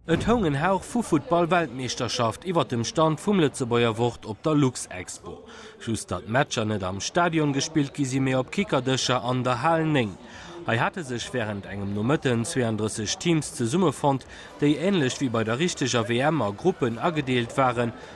Et houng en Hauch vu Futtball-Weltmeeschterschaft iwwert dem Stand vum Lëtzebuerger Wort op der Luxexpo. Just datt d'Matcher net am Stadion gespillt gi sinn, mee op Kickerdëscher an der Hal 9. Hei hate sech wärend engem Nomëtten 32 Teams zesummefonnt, déi, änlech wéi bei der richteger WM, a Gruppen agedeelt waren.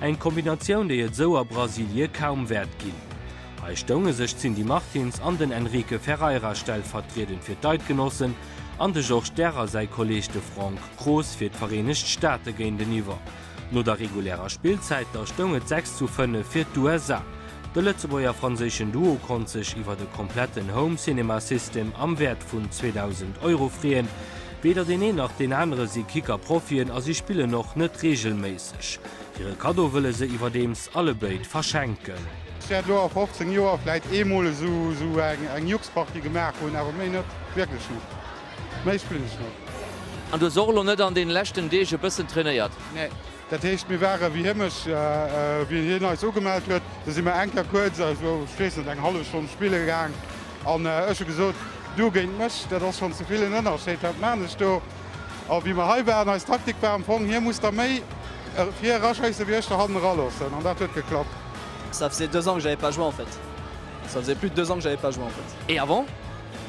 Eng Kombinatioun déi et esou a Brasilie kaum wäert ginn. Hei stounge sech d'Cindy Martins an den Enrique Ferreira stellvertriedend fir d'Eidgenossen an de Georges Derr a säi Kolleeg de Franck Croes fir d'Vereenegt Staate géinteniwwer. No der regulärer Spillzäit da stoung et 6 zu 5 fir d'USA. De Lëtzebuerger-franséischen Duo konnt sech iwwer e kompletten Home Cinema System am Wäert vun 2.000 Euro freeën. Weder deen een nach deen anere si Kicker-Profien a si spillen och net reegelméisseg. 1985. Hire Kaddo wëlle se iwwerdeems allebéid verschenken. Ech wäert elo a 15 Joer vläit eemol esou eng Juxparty gemaach hunn, awer méi net. Wierklech net. Méi spillen ech net. An du hues och elo net an deene leschten Deeg e bëssen trainéiert? Nee. Dat heescht, mir ware wéi heemech. Wéi hien eis ugemellt huet, da si mir eng Kéier kuerz, also ech weess net, eng hallef Stonn spille gaang. An ech hu gesot, Du géint mech, dat ass schonn ze vill en Ënnerscheed, wat maan ech do? A wéi mer hei waren, eis Taktik war am Fong, hie muss da méi vir eraschéissen, wéi ech da hannen eraloossen. An dat huet geklappt. Ça faisait deux ans que j'avais pas joué en fait. Ça faisait plus de deux ans que j'avais pas joué en fait. Et avant?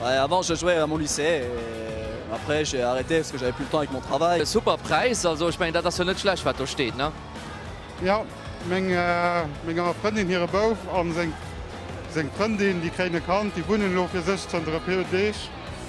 Bah avant je jouais à mon lycée et après j'ai arrêté parce que j'avais plus le temps avec mon travail. E super Präis, also ech mengen dat ass jo net schlecht wat do steet, ne? Jo, menger Frëndin hire Bouf a seng Frëndin, déi kréien e Kand, déi wunnen elo fir sech zënter e puer Deeg.